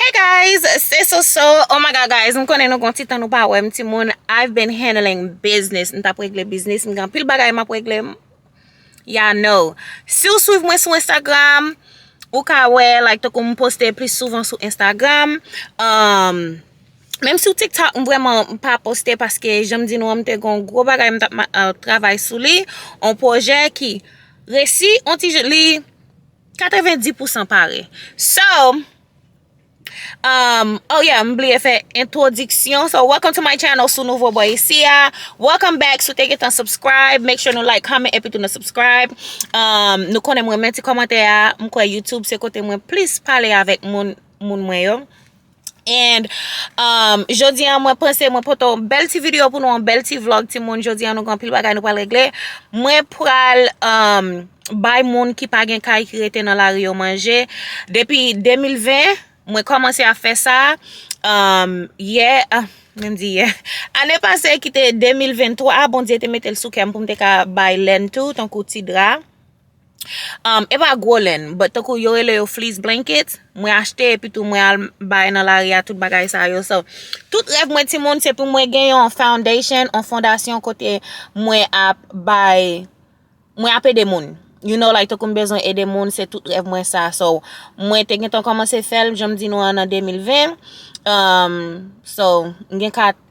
Hey guys, se Soso, oh my god guys, m konnen nou gen yon ti tan nou pa wèm ti moun, I've been handling business, m tap regle biznis, m gen anpil bagay map regle, ya know. Si w swiv mwen sou Instagram, ou ka wè like tankou m poste plis souvan sou Instagram, um, menm sou TikTok m vrèman m pa poste paske jan m di nou an m te gen yon gwo bagay m tap travay sou li, yon pwojè ki resi yon ti jan, li. 90 pousan pare So Umm oh yeah m bliye fè entwodiksyon So welcome to my channel Si w nouvo bò isi a Welcome back Si w te gentan subscribe Make sure nou like, comment epi tou nou subscribe Umm nou konnen m renmen ti kòmantè a M kwè youtube se kote mwen plis pale avèk moun moun mwen yo. And Jodi an mwen panse mwen pote yon bèl ti video pou nou yon bèl ti vlog ti moun Jodi an nou gen anpil bagay nou pral regle Mwen pral um bay moun ki pa gen kay ki rete nan lari yo manje Depi 2020 mwen komanse ap fè sa um yè ah menm di yè Ane pase ki te 2023 Bondye te mete l sou kè m pou m te ka bay lenn tou tankou ti dra Umm epa gwo lenn but tankou yo rele yo fleece blankets mwen achte epi tou mwen al bay nan lari a tout bagay sa yo so tout rèv mwen ti moun se pou mwen gen yon foundation yon fondasyon kote mwen ap bay mwen ap ede moun you know like tankou m bezwen ede moun se tout rèv mwen sa so mwen te gentan komanse fèl janm di nou an nan 2020 umm so m gen 4.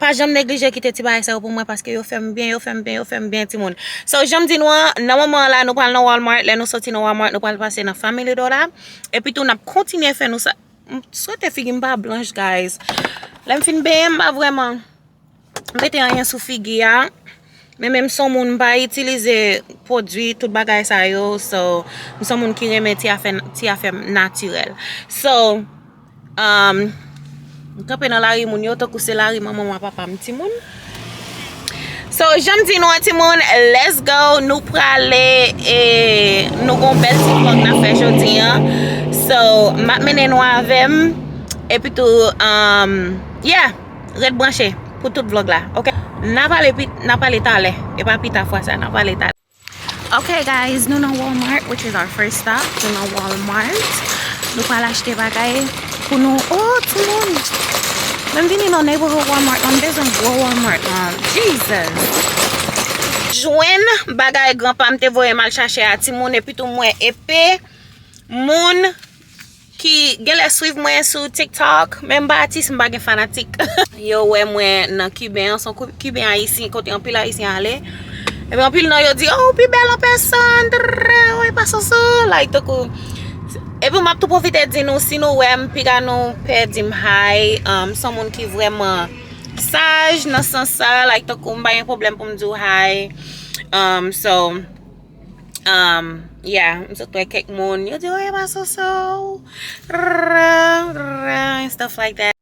Pa janm neglije kite ti bagay sa yo pou mwen paske yo fèm byen, yo fèm byen, yo fèm byen ti moun. So janm di nou an, nan moman an la nou pral nan Walmart, lè nou soti nan Walmart nou pral pase nan Family Dollar epi tou nap kontinye fè nou sa. M swete figim pa blanch guys. Lèm fin benyen m pa vreman mete anyen sou figi a. Men men m son moun m pa itilize pwodwi tout bagay sa yo so m son moun ki renmen ti afè ti afè natirèl so umm m kanpe nan lari moun yo tankou se lari manman m a papa m ti moun so jan m di nou an ti moun let's go nou prale e nou gon bèl ti vlog n ap fè jodi an so m ap mennen nou avè m epitou umm yeah. Ret branche pou tout vlog la ok. Nan pale pi nan pale talè e pa pita fwa sa nan pale talè. Ok guys nou nan walmart which is our first stop nou nan walmart nou pral achte bagay pou nou oh timoun mwen vini nan neighborhood walmart lan m bezwen gwo walmart lan Jesus. Jwenn bagay granpam te voyem al chache a timoun epitou m wè epe moun. Ki genlè swiv mwen sou tiktok menm pa atis mpa gen fanatik. Yo wè mwen nan kiben an son kiben ayisyen kote anpil ayisyen ale epi anpil nan yo di oh ou pi bèl an pèsòn trrrr oh epa soso like tankou epi map tou pwofite di nou si nou wèm piga nou pè dim hi son moun ki vrèman saj nan sans sa like tankou mpa gen pwoblèm poum diw hi so. Um, yeah, m sot wè kèk moun, yo di, oh, e pa Soso, and stuff like that.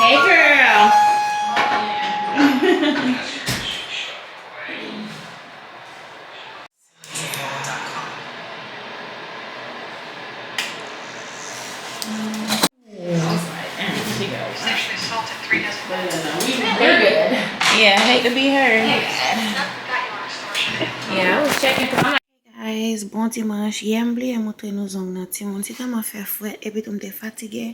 Hey girl! Ki bò ou ta kanpe? Hey guys bon dimanche yè m bliye moutre nou zong nan timoun ti tanman fè fre epitou m te fatige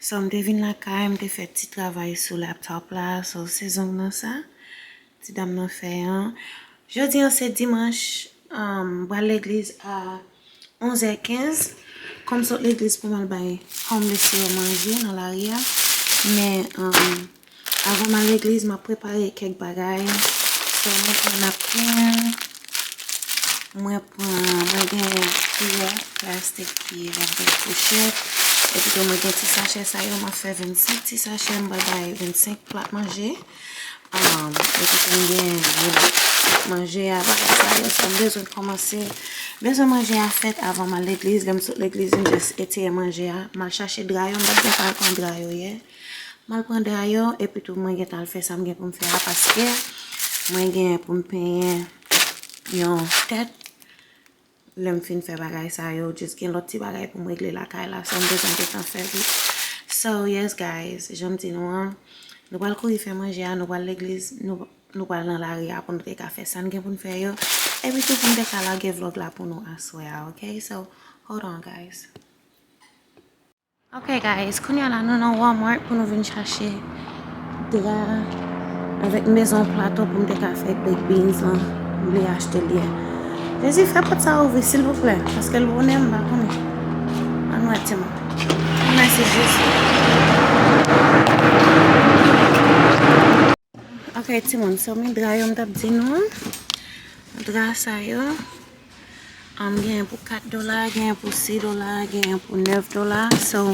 So m te vin lakay m te fè ti travay sou laptop la so se zong nan sa ti dam nan fè an jodi an se dimanch m pral legliz a 11 è 15 kon m sot legliz pou m al bay homeless yo manje nan lari a men Avan m al legliz, m ap prepare kèk bagay. Sò mwen pran napkin. Mwen pran, mwen gen kiyè plastik ki vin gen fouchèt. Epitou mwen gen ti sachè sa yo. M ap fè 25 ti sachè. M pral bay 25 plat manje. Epitou m gen plat manje a, bagay sa yo. Sò m bezwen kòmanse. M bezwen manje a fèt avan m al legliz. Lè m sot legliz, m jis etire manje a. M al chache dra yo. M pa t gen tan pran dra yo yè. M al pran drayo epi tou mwen gentan al fè sa m gen pou m fè a paske mwen gen pou m penyen yon tèt. Lè m fin fè bagay sa yo jis gen lòt ti bagay pou m regle lakay la sa m bezwen gentan fè li. So yes guys jan m di nou an nou pral kouri fè manje a nou pral legliz nou pral nan lari a pou nou te ka fè sa n gen pou n fè yo epi tou pou m te ka lage vlog la pou nou aswè a ok so hold on guys. Ok guys kounya la nou nan walmart pou nou vin chache dra avèk mezon plato pou m te ka fè baked beans lan m vle achte li Jezi fè pòt sa ouvri silvouplè paske l bonè m pa konnen an wè ti moun mèsi Jezi Ok ti moun so men dra yo m tap di nou an dra sa yo. Genyen pou 4 dola, genyen pou 6 dola, genyen pou 9 dola. So,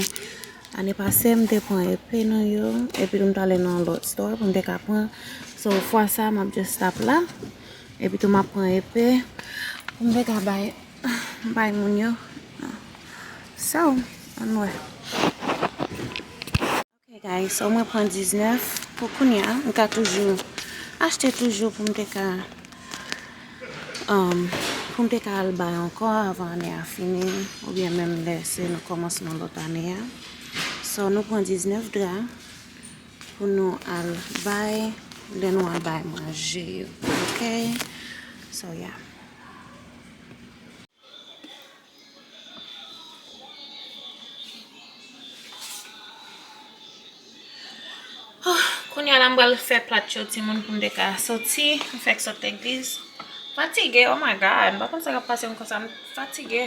ane pase m te pran epe nan yo, epi tou m t ale nan yon lòt stò pou m te ka pran. So, fwa sa a m ap just stop la. Epi tou m ap pran epe pou m te ka bay, bay moun yo. So, ann wè. Ok guys so mwen pran 19 pou kounya m ka toujou achte toujou pou m te ka pou m te ka al bay anko avan ane a fini oubyen menm lè se nan komansman lot ane a so nou pran 19 dra pou nou al bay lè nou al bay manje yo ok so ya. Kounye a la m pral fè plat yo timoun pou m te ka soti. M fèk sot legliz. Fatige oh my God. M pa konn sa k ap pase m konsa. M fatige.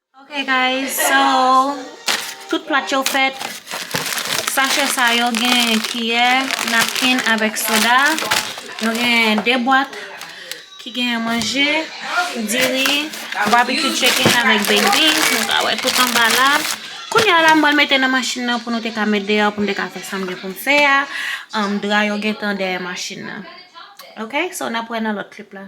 Ok guys so tout plat yo fèt sachè sa yo gen kiyè napkin avèk soda nou gen 2 bwat ki gen manje diri barbecue chicken avèk baked beans nou ka wè tout anba la kounya la m pral mete nan machin nan pou nou te ka met deyò pou m te ka fè sa m gen pou m fè a dra yo gentan dèyè machin nan ok so nap wè nan lòt clip la.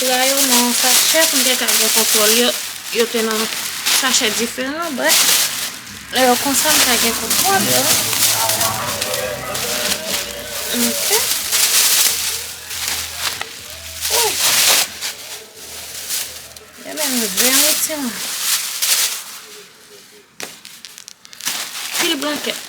Dra yo nan yon sachè pou m te ka gen kontwòl yo. Yo te nan sachè diferan, brèf. Lè yo konsa, m ka gen kontwòl yo. Ok. Ouh! Yo menm zen wi timoun. Pil blankèt.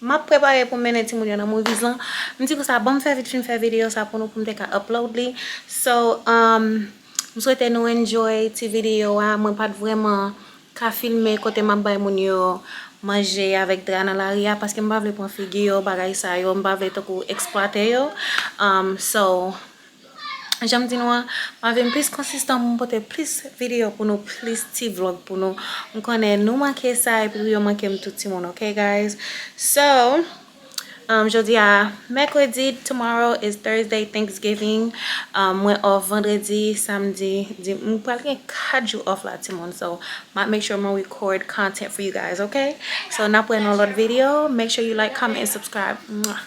Map prepare pou mennen timoun yo nan movies lan. M di pou sa banm fè vit fin fè video sa pou nou poum te ka upload li. So umm m swete nou enjoy ti video a. Mwen pat vrèman ka filme kote map bay moun yo manje avèk dra nan lari a paske m pa vle pran figi yo bagay sa yo m pa vle tankou eksplwate yo umm so. Janm di nou an map vin plis konsistan poum pote plis video pou nou plis ti vlog pou nou m konnen nou manke sa epi tou yo mankem tou ti moun ok guys so jodi a mèkredi tomorrow is Thursday thanksgiving mwen off vandredi samdi m pral gen 4 jou off la ti moun so map make sure mwen record content for you guys ok so nap wè nan yon lòt video make sure you like comment and subscribe mwah.